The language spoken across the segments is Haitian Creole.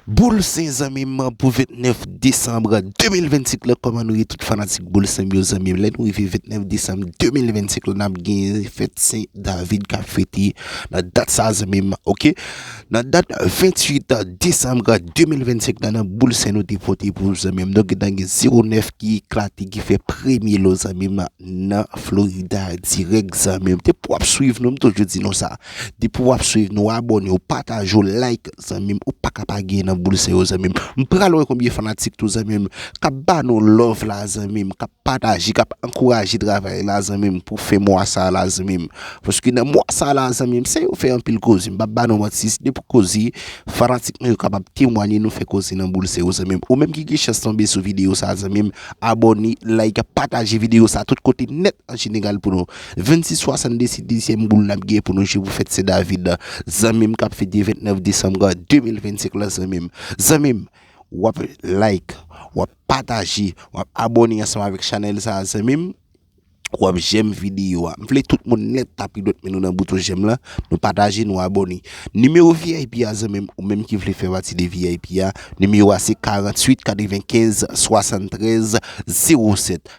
Boul sen zanmim pou 29 desanm 2025 lan kòman nou ye tout fanatik boul sen m yo zanmim lè nou rive 29 desanm 2025 lan nap gen fèt sen David kap fete nan dat sa zanmim ok nan dat 28 desanm 2025 lan nan boul sen nou te pote pou ou zanmim nou gentan gen 09 ki eklate ki fè premye lo zanmim nan Florida dirèk zanmim depi wap swiv nou m toujou di nou sa. Depi wap swiv nou abone ou pataj ou like zanmim ou paka pa gee nan boul seyo zanmim m pral wè konbyen fanatik tou zanmim kap ba nou love la zanmim kap pataje kap ankouraje travay la zanmim pou fen mwa sa la zanmim paske nan mwa sa la zanmim se yo fè anpil koze m pap ba nou manti se depi koze fanatik nou yo kapab temwanye nou fè koze nan boul seyo zanmim ou menm ki gen chans tonbe sou videyo sa zanmim abone like pataje videyo sa tout kote nèt an jeneral pou nou. 26 62 se dezyèm boul nap gen pou nou jwe pou fèt sendavid la zanmim kap fete 29 desanm 2025 la zanmim zanmim wap like wap pataje wap abòne ansanm avèk chanèl sa zanmim wap jèm videyo a m vle tout moun nèt tape dwèt men nou nan bouton jèm la nou pataje nou abòne nimewo vip a zanmim ou menm ki vle fè pati de vip a nimewo a se 48 95 73 07.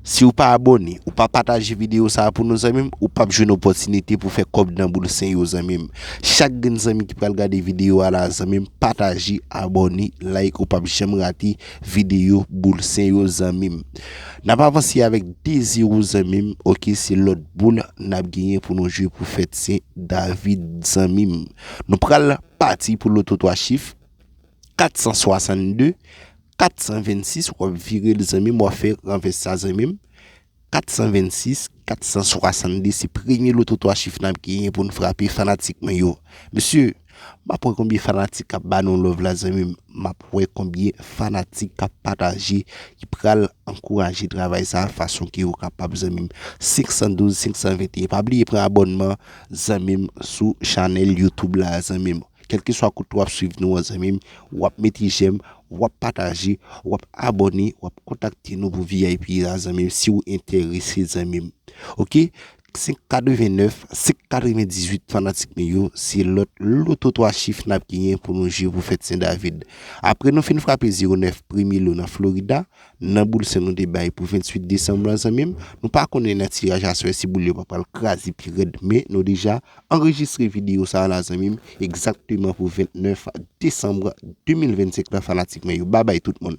Siw pa abone ou pa pataje video sa pou nou zanmim ou pap jwenn opotinite pou fè kob nan boul sen yo zanmim chak grenn zanmi ki pral gade video a la zanmim pataje abone like ou pap janm rate video boul sen yo zanmim nap avanse avèk 2 zero zanmim ok se lòt boul nap genyen pou nou jwe pou fèt sen David zanmim nou pral pati pou loto 3 chif. 462 426 wap virel zanmim wap fè ranvès sa zanmim 426 462 se premye loto 3 chif nap genyen pou nou frape fanatik mwen yo mesye map wè konbyen fanatik kap ba nou love la zanmim map wè konbyen fanatik kap pataje ki pral ankouraje travay sa fason ke ou kapab zanmim 512 521 pa bliye pran abònman zanmim sou chanèl youtube la zanmim. Kelkeswa kote wap swiv nou an zanmim wap mete jèm wap pataje wap abòne wap kontakte nou pou vip a zanmim si ou entèrese zanmim ok 5 89 5 98 fanatik nou yo se lòt loto 3 chif nap genyen pou nou jwe pou fèt sen david apre nou fin frape 09 premye lo nan florida Nan boul sen nou te bay pou 28 desanm lan zanmim, nou pa konnen nan tiraj aswè si boul yo pa pral kraze pi rèd men nou deja anrejistre videyo sa la zanmim egzakteman pou 29 desanm 2025 la fanatik mwen yo babay tout moun.